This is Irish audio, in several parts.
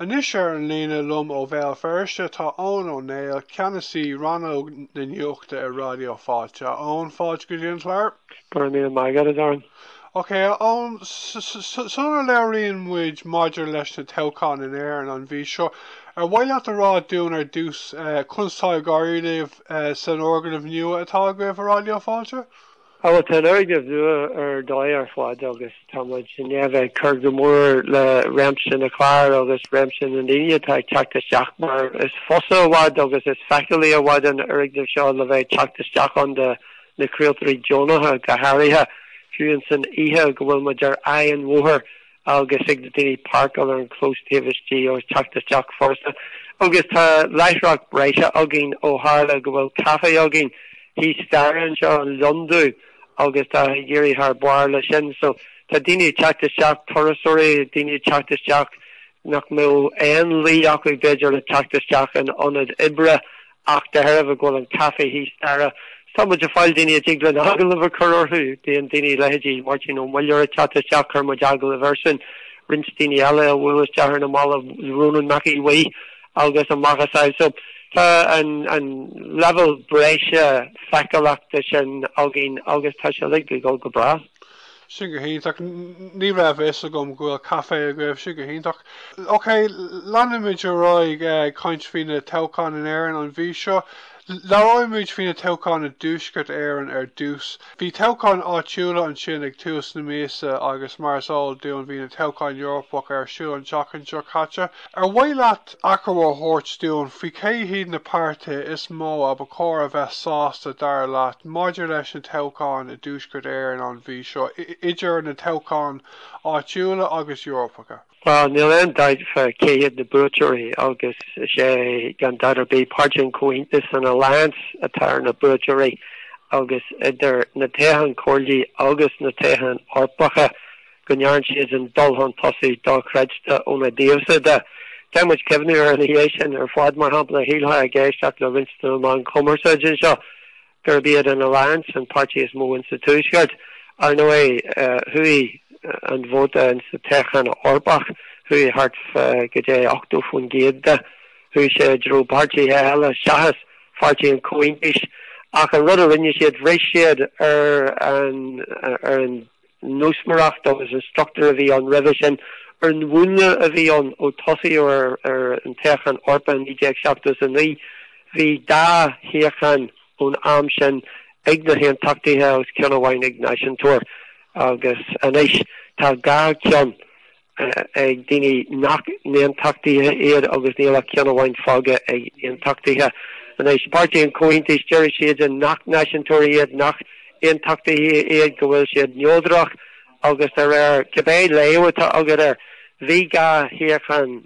Anois ar an líne liom ó Bhéal Feirste tá Eoghan Ó Néill, Ceannasaí Rannóg na Nuachta i Raidió Fáilte. A Eoghan, fáilte go dtí an clár. Go raibh míle maith agat, a Darren. Ok, a Eoghan, sula labhraíonn muid maidir leis na toghcháin in Éirinn an mhí seo, ar mhaith leat a rá dúinn ar dtús conas tá ag éirí libh san fhoirgneamh nua atá agaibh i Raidió Fáilte? Bhuel, tá an foirgneamh nua ar dóigh ar fad agus tá muid i ndiaidh bheith ag cur go mór le réimse na gclár agus réimse na ndaoine atá ag teacht isteach mar is fusa i bhfad agus is feiceálaí i bhfad an foirgneamh seo le bheith ag teacht isteach ann do na craoltóirí deonacha go háirithe fiú san oíche go bhfuil muid ar aghaidh an bhóthair agus thig le daoine páirceáil ar an chlós taobh istigh agus teacht isteach furasta agus tá láithreacht breise againn ó tharla go bhfuil caife againn thíos staire anseo, An Lon Dubh, agus tá ag éirí thar barr leis sin so tá daoine ag teacht isteach turasóirí daoine ag teacht isteach nach mbeadh aon luí acu b'fhéidir le teacht isteach in ionad oibre Ach de thairbhe go bhfuil an caife thíos staire, tá muid ag fáil daoine a dtig linn agallamh a chur orthu. Bíonn daoine a leithéidí Máirtín Ó Muilleoir ag teacht isteach, chuir muid agallamh air sin. Roinnt daoine eile a bhuail isteach ar na mallaibh, Rónán Mac Aodha Bhuí agus a macasamhail. So tá an an leibhéal breise feiceálachta sin againn agus tá sé uilig ag dul go breá. Sin go hiontach. Ní raibh a fhios agam go bhfuil caifé agaibh, sin go hiontach. Ok, leanfaimid ar aghaidh ag caint faoi na toghcháin in Éirinn an mhí seo. Labhróimid faoi na toghcháin i dTuaisceart Éireann ar dtús. Bhí toghcháin áitiúla ansin ag tús na míosa agus mar is eol dúinn bhí na toghcháin Eorpacha ar siúl an tseachtain seo caite. Ar mhaith leat achoimre a thabhairt dúinn faoi cé hiad na páirtithe is mó a ba chóir a bheith sásta dar leat maidir leis na toghcháin i dTuaisceart Éireann an mhí seo, idir na toghcháin áitiúla agus Eorpacha? Bhuel, níl aon dabht fá cé hiad na buaiteoirí agus is é, gan dabht ar bith, Páirtí an Chomhaontais, an Alliance, atá ar na buaiteoirí agus idir na toghcháin Chomhairle agus na toghcháin Eorpacha, go ndearn siad an dul chun tosaigh dochreidte óna dtaobhsan de. Caithfidh muid cuimhniú ina dhiaidh sin ar fad, mar shampla, a shílfeá ag éisteacht le roinnt de na meáin chumarsáide anseo gurb iad an Alliance an páirtí is mó insa Tuaisceart, ar ndóigh, chuaigh an vóta insa toghchán Eorpach, chuaigh thart go dtí 80% de, chuaigh sé i dtreo páirtithe eile seachas Pháirtí an Chomhaontais, ach an rud a rinne siad, bhris siad ar an nósmaireacht agus an struchtúr a bhí ann roimhe sin ar an mhúnla a bhí ann ó tosaíodh ar, ar an toghchán Eorpach in 1979. Bhí dhá shuíochán ón am sin ag na hAontachtaithe agus ceann amháin ag náisiúntóirí agus anois tá dhá cheann. ag daoine nach n-aontachtaithe iad agus níl ach ceann amháin fágtha ag aontachtaithe. Anois, páirtí an Chomhaontais, deir siad nach náisiúntóirí iad, nach n-aontachtaithe iad, go bhfuil siad neodrach agus de réir cibé léamh atá agat air, bhí dhá shuíochán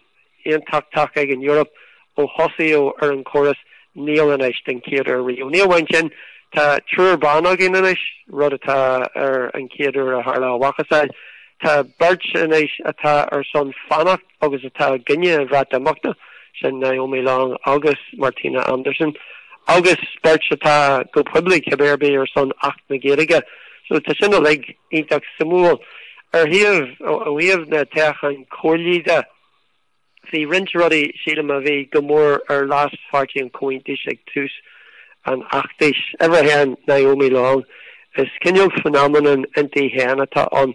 aontachtach ag an Eoraip ó thosaíodh ar an chóras. Níl anois den chéad uair riamh. Ní amháin sin, tá triúr ban againn anois, rud atá ar an chéad uair a tharla a mhacasamhail. Tá beirt anois atá ar son fanacht agus atá i gcoinne an Bhreatimeachta, sin Naomi Long agus Martina Anderson, agus beirt atá go poiblí cibé ar bith ar son Acht na Gaeilge, so tá sin uilig iontach suimiúil. Ar thaobh ó thaobh na toghcháin comhairlí de, bhí roinnt rudaí, sílim, a bhí go mór ar leas Pháirtí an Chomhaontais ag tús an fheachtais. Uimhir a haon, Naomi Long. Is cineál phenomenon inti féin atá ann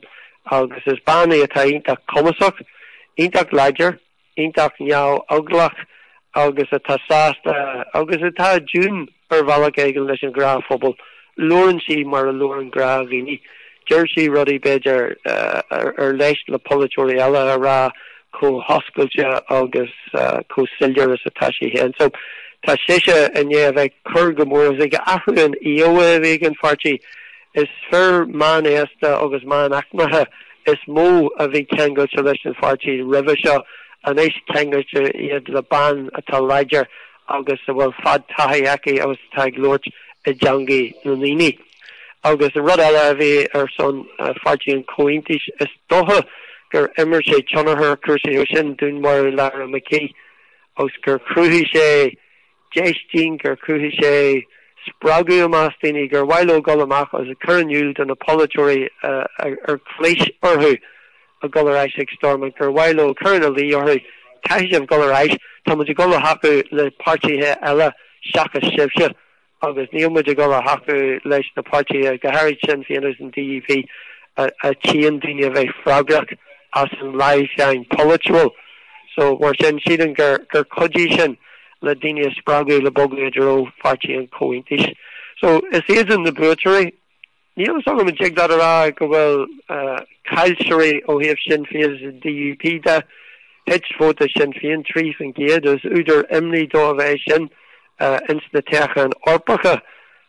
agus is bean í atá iontach cumasach, iontach láidir. iontach neamheaglach agus atá sásta agus atá i dtiúin ar bhealach éigin leis an ghnáthphobal. Labhrann sí mar a labhrann gnáthdhaoine. Deir sí rudaí b'fhéidir ar leisc le polaiteoirí eile a rá chomh hoscailte agus chomh soiléir is atá sí féin. So tá sise i ndiaidh a bheith cur go mór ag athrú an íomhá a bhí ag an pháirtí is fir meánaosta agus meánaicmeacha is mó a bhí ceangailte leis an pháirtí roimhe seo, anois ceangailte iad le bean atá láidir agus a bhfuil fadtaithí aici agus atá ag labhairt i dteangaidh na ndaoine. Agus an rud eile a bhí ar son Pháirtí an Chomhaontais, is dócha gur imir sé tionchar ar chúrsaí ó sin, dúnmharú Lyra McKee agus gur chruthaigh sé, déistin, gur chruthaigh sé spreagadh i measc daoine, gur mhaith leo dul amach agus a chur in iúl do na polaiteoirí ar chlis orthu a dhul ar ais ag Stormont, gur mhaith leo cur ina luí orthu, caithfidh sibh dhul ar ais, tá muid ag dhul a thacú le páirtithe eile seachas sibhse agus níl muid ag dhul a thacú leis na páirtithe, go háirid Sinn Féin agus an DUP, a tchíonn daoine a bheith freagrach as an leamhsháinn pholaitiúil. So, mar sin, sílim gur chuidigh sin. le daoine a spreagadh le bogadh i dtreo Pháirtí an Chomhaontais. So, is iadsan na buaiteoirí. Níl fhios agam an dtig leat a rá go bhfuil caillteoirí ó thaobh Sinn Féin is an DUP de. Thit vóta Shinn Féin 3% agus údar imní dóibh é sin ins na toghcháin Eorpacha.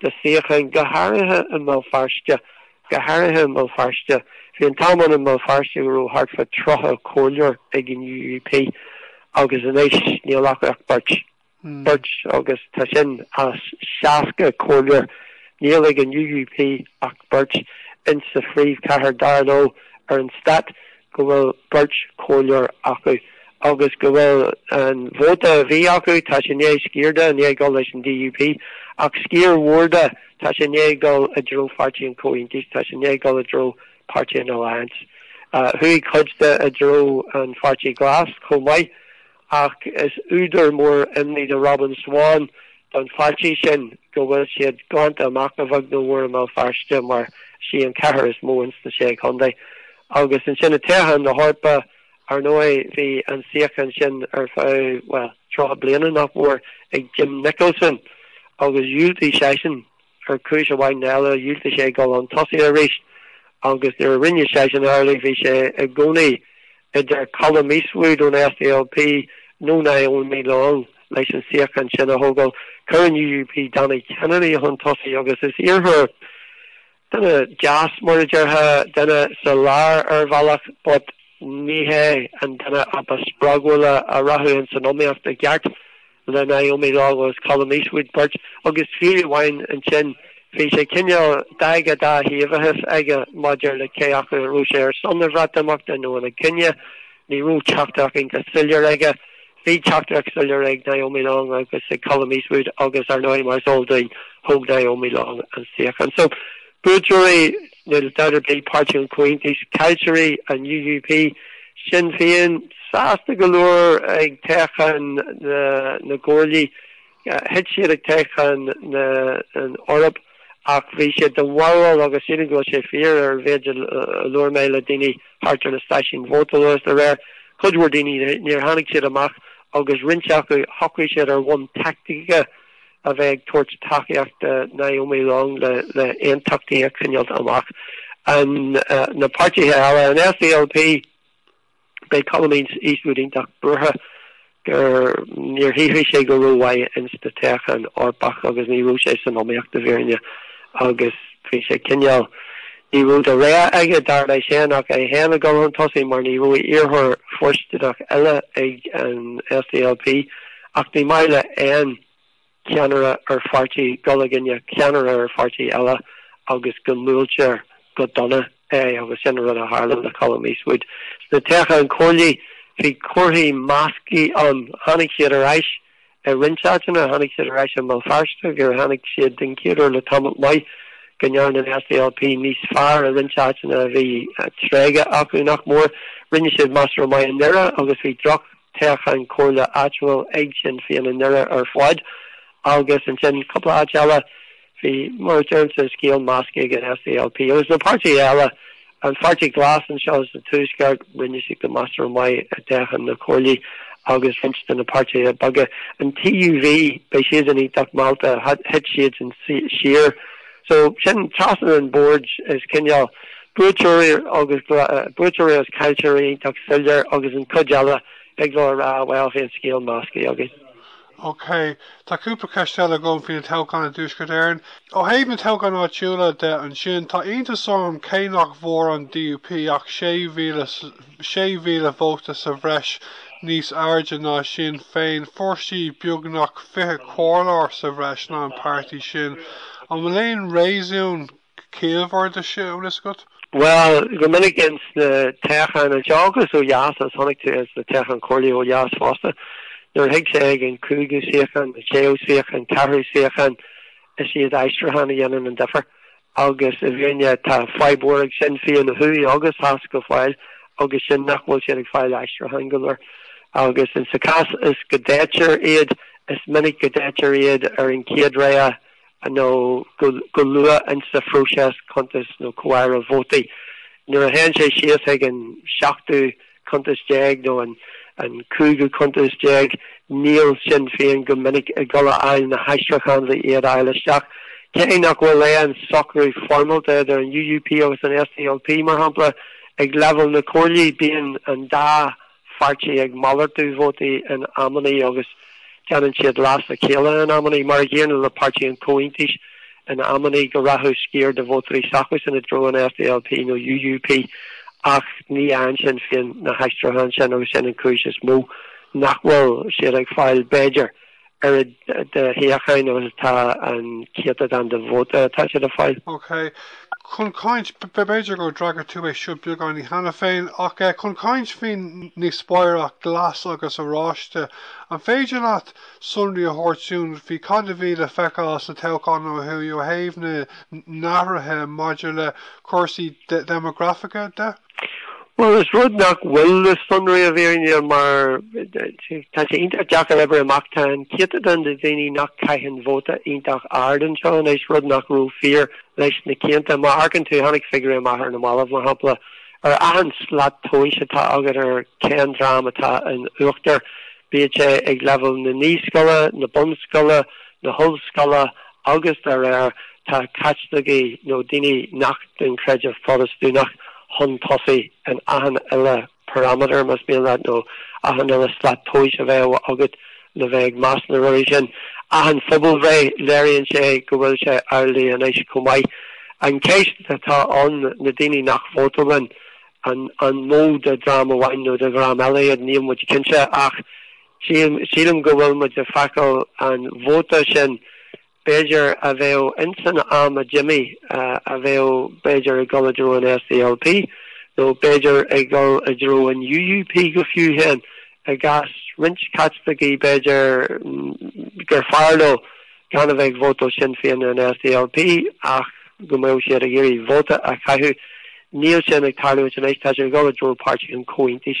de shuíocháin, go háirithe i mBéal Feirste, go háirithe i mBéal Feirste. Bhí an t-am ann i mBéal Feirste go raibh thart fá tríocha comhairleoir ag an UUP agus anois níl acu ach beirt, beirt agus tá sin as seasca comhairleoir, níl ag an UUP ach beirt insa phríomhchathair, dar leo, ar an stát. go bhfuil beirt chomhairleoir acu agus go bhfuil an vóta a bhí acu, tá sé ndiaidh sciar de ndiaidh dul leis an DUP, ach sciar mhór de, tá sé ndiaidh dul i dtreo Pháirtí an Chomhaontais, tá sé ndiaidh dul i dtreo Páirtí an Alliance. Uh, Chuaigh cuid de i dtreo an Pháirtí Glas chomh maith. ach is údar mór imní do Robin Swann don pháirtí sin go bhfuil siad glanta amach a bheag nó a mhór i mBéal Feirste mar is í an chathair is mó ins na sé chontae agus ansin i dtoghcháin na hEorpa. Ar ndóigh bhí an suíochán sin ar feadh, bhuel, tríocha bliana nach mór ag Jim Nicholson agus dhiúltaigh seisean Ar chúis amháin nó eile dhiúltaigh sé dul 'un tosaigh arís agus nuair a rinne seisean amhlaidh bhí sé i gcónaí idir Colum Eastwood ón SDLP nó Naomi Long leis an suíochán sin a thógáil. Chuir an UUP Danny Kennedy chun tosaigh agus is iarrthóir, duine deas mar a déarfá, duine sa lár ar bhealach but níorbh é an duine ba spreagúla a rachadh ins an iomaíocht i gceart. Le Naomi Long agus Colum Eastwood beirt agus fiú amháin ansin, bhí sé cineál d'fhadhb dáthaobhachais aige maidir le cé acu a raibh sé ar son an Bhreatimeachta nó ina choinne, ní raibh teachtaireacht iontach soiléir aige. Bhí teachtaireacht soiléir ag Naomi Long agus ag Colum Eastwood agus ar ndóigh mar is eol dúinn thóg Naomi Long an suíochán. So buaiteoirí Níl dabht ar bith Páirtí an Chomhaontais, Caillteoirí, an UUP, Sinn Féin, sásta go leor ag toghchán na gComhairlí. Thit siad ag toghchán na hEorpa ach bhí siad de bharúil agus sílim go bhfuil sé fíor ar mhéid a labhair mé le daoine thart ar na stáisiúin vótála agus de réir cuid mhór daoine níor tháinig siad amach agus roinnt acu shocraigh siad ar bhonn taictice a bheith ag tabhairt tacaíocht do Naomi Long le aontachtaí a choinneáilt amach. Na páirtithe eile, an SDLP, beidh Colum Eastwood iontach buartha gur, níor chruthaigh sé go rómhaith ins an toghchán Eorpach agus ní raibh sé san iomaíocht i bhfírinne agus bhí sé cineál, ní raibh de rogha aige, dar leis féin, ach é féin ag dul chun tosaigh mar ní raibh iarrthóir fóirsteanach eile ag an SDLP. Ach ní maith le aon cheannaire ar pháirtí dul i gcoinne ceannaire ar pháirtí eile agus go mbuailtear go dona é agus sin an rud a tharla le Colum Eastwood. Sna toghcháin chomhairle bhí comharthaí measctha ann. Tháinig siad ar ais i roinnt áiteanna. Tháinig siad ar ais i mBéal Feirste gur tháinig siad den chéad uair le tamall maith go ndearna an SDLP níos fearr i roinnt áiteanna a bhí tréigthe acu nach mór. Rinne siad measartha maith i nDoire agus bhí droch. Toghchán comhairle áitiúil ag Sinn Féin i nDoire ar fad agus ansin cúpla áit eile. Bhí mar a deirimse scéal measctha ag an SDLP agus na páirtithe eile. An Pháirtí Glas anseo sa Tuaisceart, rinne siad go measartha maith i dtoghcháin na comhairlí agus roinnt de na páirtithe beaga. An TUV, beidh siad iontach meallta, thit siadsan siar. So, sin trasna an bhoird is cineál buaiteoirí agus buaiteoirí agus caillteoirí iontach soiléir agus an cuid eile thig leo a rá bhuel bhí an scéal measctha againn. Ok, tá cúpla ceist eile agam faoi na toghcháin i dTuaisceart Éireann. Ó thaobh na toghchán áitiúla de ansin, tá iontas orm cé nach bhfuair an DUP ach 6,000 6,000 vóta sa bhreis níos airde ná Sinn Féin, fuair sí beagnach 20 comhairleoir sa bhreis ná an páirtí sin. An bhfuil aon réasún ciallmhar de sin, ar eolas agat? Bhuel, go minic ins na toghcháin anseo agus ó dheas, agus chonaic tú ins na toghcháin comhairlí ó dheas fosta, nuair a thig sé ag an cúigiú suíochán, an séú suíochán, ceathrú suíochán, is iad aistriúcháin a dhéanann an difear. agus i bhfírinne tá fadhb mhór ag Sinn Féin ó thuaidh agus theas go fóill agus sin nach bhfuil siad ag fáil aistriúcháin go leor agus insa chás is go dtoghtar iad is minic go dtoghtar iad ar an chéad rogha nó go luath insa phróiseas cuntas nó comhaireamh vótaí. Nuair a théann sé síos chuig an seachtú cuntas déag nó an cúigiú cuntas déag, níl Sinn Féin go minic ag dul a fháil na haistriúcháin le iad a fháil isteach. Cé nach bhfuil aon socrú foirmeálta idir an UUP agus an SDLP, mar shampla, ag leibhéal na Comhairlí, bíonn an dá pháirtí ag malartú vótaí in amannaí agus déanann siad leas a chéile in amannaí, mar a dhéanann le Páirtí an Chomhaontais. in amannaí go rachadh sciar de vótóirí s'acusan i dtreo an SDLP nó UUP ach ní fhaigheann Sinn Féin na haistriúcháin sin agus sin an chúis is mó nach bhfuil siad ag fáil b'fhéidir oiread de shuíocháin agus atá an céatadán de vóta atá siad ag fáil. Ok. Chun caint, b'fhéidir go d'fhreagair tú é seo beagáinín cheana féin, ach chun caint faoin ndíospóireacht glas agus oráiste, an féidir leat sonraí a thabhairt dúinn faoi cad a bhí le feiceáil sna toghcháin ó thuaidh ó thaobh na n-athruithe maidir le cúrsaí deimeagrafaice de. Bhuel, is rud nach bhfuil le sonrú i bhfírinne mar tá sé iontach deacair oibriú amach tá an céatadán de dhaoine nach caitheann vóta iontach ard anseo anois, rud nach raibh fíor leis na cianta má amharcann tú tháinig figiúirí amach ar na mallaibh mar shampla Ar achan slat tomhais atá agat ar cén dream atá in uachtar, bíodh sé ag leibhéal na naíscoile, na bunscoile, na hollscoile agus dá réir, tá Caitlicigh nó daoine nach den chreideamh Protastúnach chun tosaigh in achan uile pharaiméadar, más mian leat, nó achan uile slat tomhais a bheadh agat. Le bheith ag meas na rudaí sin, achan phobalbhreith, léiríonn sé go bhfuil sé amhlaidh anois chomh maith. An cheist atá ann, na daoine nach vótálann, an mó de dhream amháin nó de dhream eile iad, níl muid cinnte ach sílim go bhfuil muid ag feiceáil an vóta sin b'fhéidir, a bheadh insan am a d'imigh, a bheadh b'fhéidir ag dul i dtreo an SDLP, nó b'fhéidir ag dul i dtreo an UUP go fiú féin, i gcás roinnt Caitlicigh b'fhéidir gur fearr leo gan a bheith ag vótáil Sinn Féin nó an SDLP ach go mbeadh siad ag iarraidh vóta a chaitheamh. Níl sin ag tarlúint anois, tá siad ag dul i dtreo Páirtí an Chomhaontais.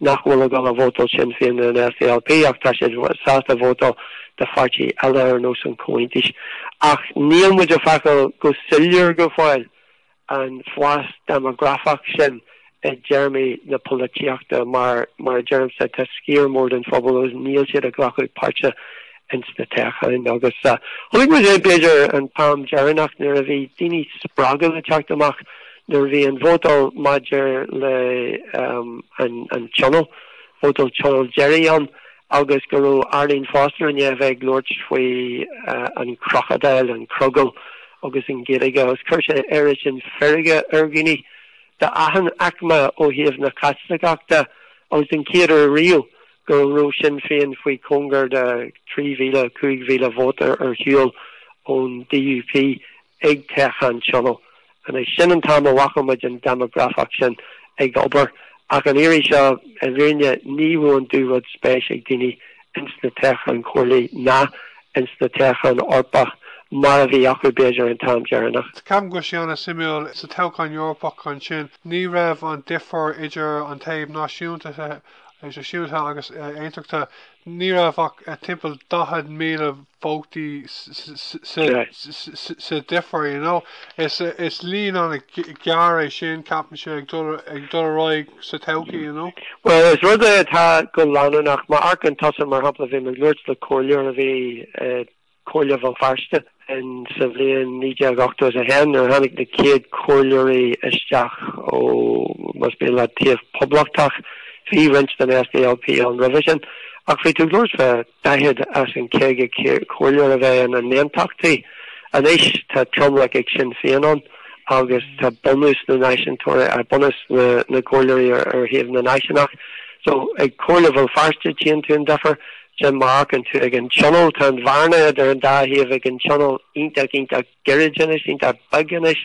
nach bhfuil ag dul a vótáil Sinn Féin ná an SDLP ach tá siad sásta vótáil do pháirtí eile ar nós an Chomhaontais. Ach níl muid ag feiceáil go soiléir go fóill an fás déimeagrafach sin i dtéarmaí na polaitíochta mar mar a deirimse tá sciar mór den phobal agus níl siad ag glacadh páirte ins na toghcháin agus chonaic muid é b'fhéidir an t-am deireanach nuair a bhí daoine spreagtha le teacht amach nuair a bhí an vótal maidir le an tionól, vótal tionóil deiridh ann agus go raibh Arlene Foster i ndiaidh a bheith ag labhairt faoi an crocodile, an crogall agus an Ghaeilge agus chuir sé oiread sin feirge ar dhaoine d'achan aicme ó thaobh na Caitliceachta agus den chéad uair riamh go raibh Sinn Féin faoi chóngar de 3,000, 5,000 vóta ar shiúl ón DUP ag toghchán tionóil. Anois, sin an t-am a bhfaca muid an déimeagrafach sin ag obair, ach an iarraidh seo, i bhfírinne, ní raibh an dubhrud spéis ag daoine ins na toghcháin chomhairlí ná ins na toghcháin Eorpach mar a bhí acu, b'fhéidir, an t-am deireanach. Ceapaim go bhfuil sé an-suimiúil, sa toghchán Eorpach ansin, ní raibh an difear idir an taobh náisiúnta náisiúnta agus aontachta ní raibh ach timpeall 40,000 vótaí sa difear. Is líon an-ghearr é sin, ceapaimse, ag dul ar aghaidh sa todhchaí. Bhuel, is rud é atá go leanúnach. Má amharcann tusa, mar shampla, bhí mé ag labhairt le comhairleoir a bhí Comhairle Bhéal Feirste in sa bhliain 1981 nuair a tháinig na chéad chomhairleoirí isteach ó más mian leat, taobh poblachtach. Bhí roinnt den SDLP ann roimhe sin ach bhí tú ag labhairt fá 40 as an 50 comhairleoir a bheith ina n-aontachtaí. Anois tá tromlach ag Sinn Féin ann agus tá bunús na náisiúntóirí, ah, bunús na gcomhairleoirí ar thaobh na náisiúnach. So ag Comhairle Bhéal Feirste tchíonn tú an difear, Sin má amharcann tú ag an Tionól. Tá an bhearna idir an dá thaobh ag an tionól iontach, iontach gairid anois, iontach beag anois.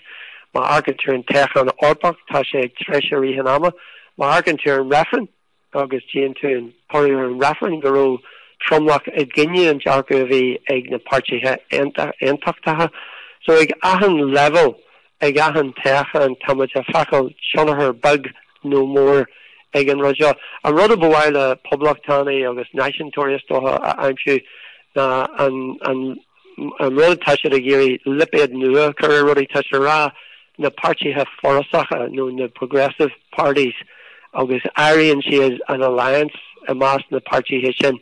Má amharcann tú ar an toghchán Eorpach, tá sé ag treisiú i rith an ama. Má amharcann tú ar an reifreann agus tchíonn tú an toradh ar an reifreann go raibh tromlach i gcoinne an dearcadh a bhí ag na páirtithe aontachtacha. So ag achan leibhéal ag achan toghchán táimid ag feiceáil tionchar beag nó mór ag an rud seo. An rud ab fhearr le poblachtánaigh agus náisiúntóirí is dócha a aimsiú ná an rud tá siad ag iarraidh lipéad nua a chur ar rudaí, tá siad ag rá na páirtithe forasacha nó na progressive parties agus áiríonn siad an Alliance i measc na páirtithe sin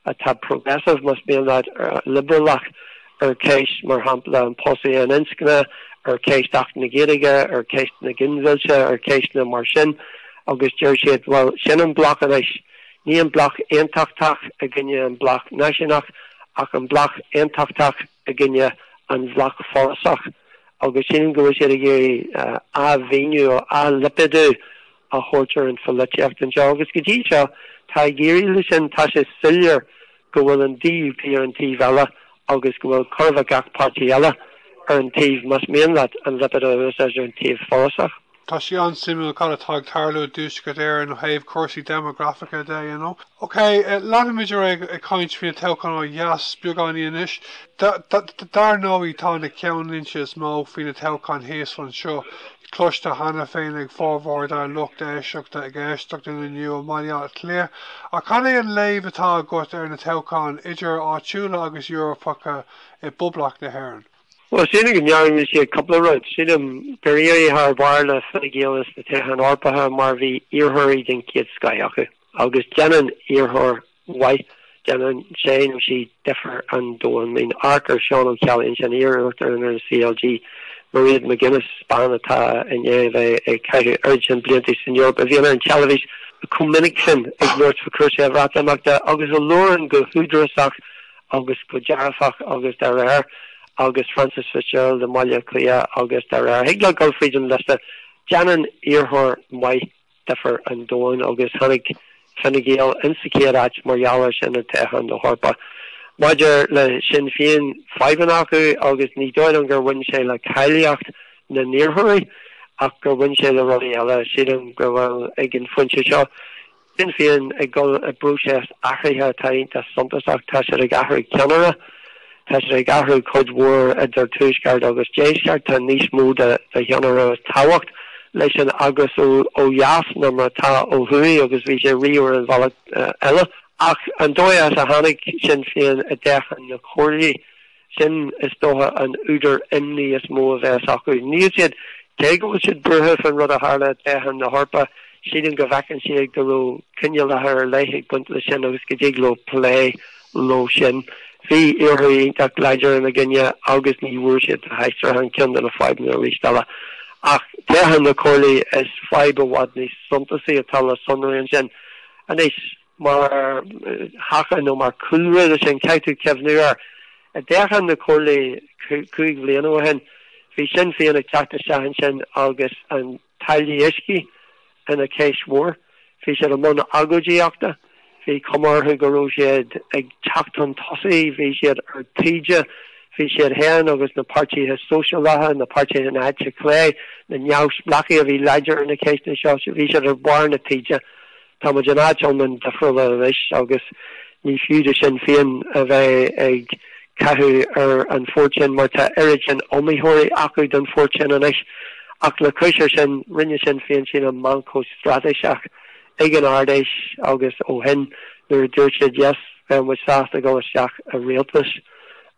atá progressive, más mian leat, liobrálach. ar cheist mar shampla an phósta aon inscne, ar cheist Acht na Gaeilge, ar cheist na ginmhillte, ar cheisteanna mar sin agus deir siad bhuel sin an bloc anois, ní an bloc aontachtach i gcoinne an bloc náisiúnach ach an bloc aontachtach i gcoinne an bhloc forásach agus sílim go bhfuil siad ag iarraidh athmhíniú, athlipéadú a thabhairt ar an pholaitíocht anseo agus go dtí seo tá ag éirí leis sin, tá sé soiléir go bhfuil an DUP ar an taobh eile agus go bhfuil chóir a bheith gach páirtí eile ar an taobh más mian leat an lipéad a úsáid ar an taobh forásach. Tá sé an-suimiúil cad atá ag tarlú i dTuaisceart Éireann ó thaobh cúrsaí deimeagrafacha de, you know. Ok, leanfaimid ar aghaidh ag caint faoi na toghcháin ó dheas beagáinín anois. Dar ndóigh tá na ceannlínte is mó faoi na toghcháin thíos ansin. cloiste cheana féinig ag formhór dár lucht éisteachta ag éisteacht linn inniu i mBaile Átha Cliath, ach cén é an léamh atá agat ar na toghcháin, idir áitiúla agus Eorpacha, i bPoblacht na hÉireann? Bhuel, sílim go ndéarfaidh siad cúpla rud. Sílim gur éirigh thar barr le Fine Gael sna Toghcháin Eorpacha mar bhí iarrthóirí den chéad scoith acu. Agus déanann iarrthóir maith, déanann sé nó sí difear an domhain. I mean amharc ar Seán Ó Ceallaigh, ansin iar-uachtarán ar an CLG, Mairéad McGuinness, bean atá i ndiaidh a bheith ag caitheamh oiread sin blianta san Eoraip, a bhíonn ar an teilifís chomh minic sin ag labhairt faoi chúrsaí Bhreatimeachta agus a labhrann go húdarasach agus go dearfach agus de réir agus Frances Fitzgerald i mBaile Átha Cliath agus de réir. Thig leat a ghabháil fríd an liosta. Déanann iarrthóir maith difear an domhain agus tháinig Fine Gael insa chéad áit mar gheall ar sin ag toghchán na hEorpa. Maidir le Sinn Féin, fadhbanna acu agus ní dóigh liom gur bhain sé le cáilíocht na n-iarrthóirí ach gur bhain sé le rudaí eile, sílim go bhfuil ag an phointe seo. Sinn Féin ag dul i bpróiseas athraithe atá iontach suntasach, tá siad ag athrú ceannaire, Tá sé ag athrú cuid mhór idir tuaisceart agus deisceart, tá níos mó de thionchar is tábhacht leis an eagras ó dheas ná mar atá ó thuaidh agus bhí sé riamh ar an bhealach eile. Ach an dóigh as a tháinig Sinn Féin i dtoghchán na comhairlí, sin is dócha an údar imní is mó a bheas acu. Níl siad, cé go bhfuil siad buartha faoin rud a tharla i dtoghchán na hEorpa, sílim go bhfeiceann siad go raibh coinníollacha ar leith ag baint leis sin agus go dtig leo plé leo sin. Bhí iarrthóirí iontach láidir ina gcoinne agus ní bhfuair siad na haistrithe, sin ceann de na fadhbanna arís eile. Ach toghcháin na comhairlí is fadhb i bhfad níos suntasaí atá le sonrú ansin. Anois, mar thaca nó mar chúlra le sin, caithfidh tú cuimhniú air, i dtoghcháin na comhairlí cúig bhliana ó shin, bhí Sinn Féin ag teacht isteach ansin agus an. Táillí uisce ina cheist mhór. Bhí siad i mbun agóidíochta. Bhí cuma orthu go raibh siad ag teacht chun tosaigh. Bhí siad ar taoide. Bhí siad féin agus na páirtithe sóisialacha, na páirtithe na heite clé, na neamhspleáchaí a bhí láidir ar na ceisteanna seo, bhí siad ar bharr na taoide. Tá muid in áit iomlán difriúil anois agus ní fiú do Shinn Féin a bheith ag caitheamh ar an phort sin mar tá oiread sin iomaitheoirí acu don phort sin anois. Ach le cois air sin, rinne Sinn Féin sílim meancóg straitéiseach ag an Ard Fheis agus ó shin nuair a dúirt siad yes bheadh muid sásta dul isteach i rialtas.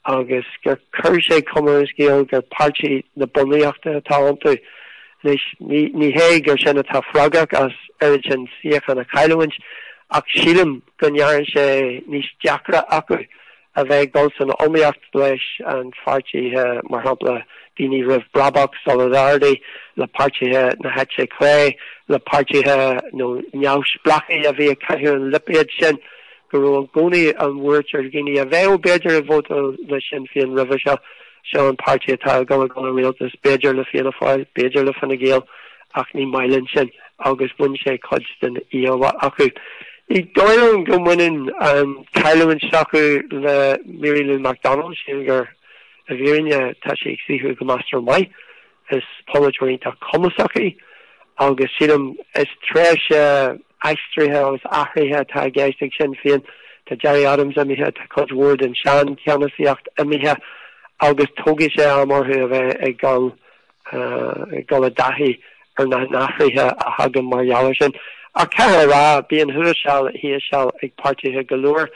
agus gur chuir sé cuma ar an scéal gur páirtí na bunaíochta atá iontu anois. Ní hé gur sin atá freagrach as oiread sin suíochán a chailliúint ach sílim go ndearna sé níos deacra acu a bheith ag dul san iomaíocht leis an pháirtithe, mar shampla daoine roimh Brabach, Solidarity, le páirtithe na heite clé, le páirtithe nó neamhspleáchaí a bhí ag caitheamh an lipéad sin. go raibh i gcónaí an bhuairt ar dhaoine a bheadh, b'fhéidir, ag vótáil le Sinn Féin roimhe seo, seo an páirtí atá ag dul a dhul i rialtas, b'fhéidir le Fianna Fáil, b'fhéidir le Fine Gael ach ní maith linn sin agus bhain sé cuid den íomhá acu. Ní dóigh liom go mbaineann an cailliúint s'acu le Mary Lou McDonald siocair i bhfírinne tá sé ag saothrú go measartha maith. Is polaiteoir iontach cumasach í agus sílim is tréimhse aistrithe agus athraithe atá i gceist ag Sinn Féin. Tá Gerry Adams imithe, tá cuid mhór den seancheannasaíocht imithe agus tógfaidh sé am orthu a bheith ag dul, ag dul i dtaithí ar na hathruithe a thagann mar gheall air sin. Ach caithfear a rá, bíonn thuas seal, thíos seal ag páirtithe go leor.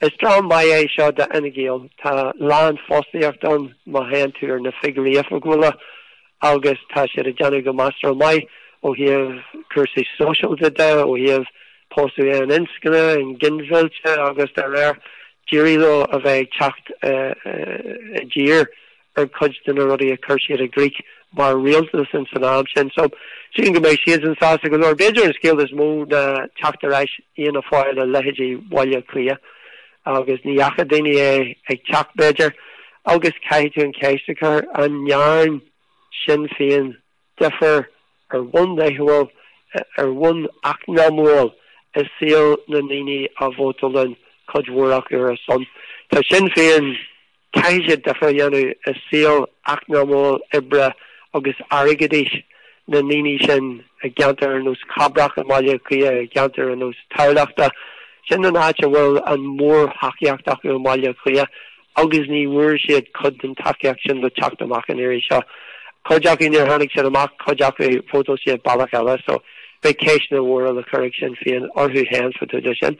Is tráth maith é seo d'Fhine Gael. Tá lánfhostaíocht ann má théann tú ar na figiúirí oifigiúla agus tá siad ag déanamh go measartha maith ó thaobh cúrsaí sóisialta de, ó thaobh pósadh aoninscne, an ghinmhillte agus dá réir. D'éirigh leo a bheith ag teacht i dtír. ar cuid de na rudaí a chuir siad i gcrích mar rialtas ins an am sin. So, sílim go mbeidh siadsan sásta go leor. B'fhéidir an scéal is mó ná teacht ar ais Fhianna Fáil i leithéidí Bhaile Cliath agus ní fhaca daoine é ag teacht b'fhéidir. Agus caithfidh tú an cheist a chur, an ndearn Sinn Féin difear ar bhonn laethúil, ar bhonn eacnamúil i saol na ndaoine a vótálann cuid mhór acu ar a son. Tá Sinn Féin, caithfidh siad difear a dhéanamh i saol eacnamúil, oibre agus airgeadais na ndaoine sin i gceantair ar nós Chabrach i mBaile Átha Cliath, i gceantair ar nós Tamhlachta. Sin an áit a bhfuil an mhórthacaíocht acu i mBaile Átha Cliath. agus ní bhfuair siad cuid den tacaíocht sin le teacht amach an iarraidh seo. Cuid acu níor tháinig siad amach, cuid acu vótáil siad bealach eile so beidh ceisteanna mhóra le cur ag Sinn Féin orthu féin fá dtaobh de sin.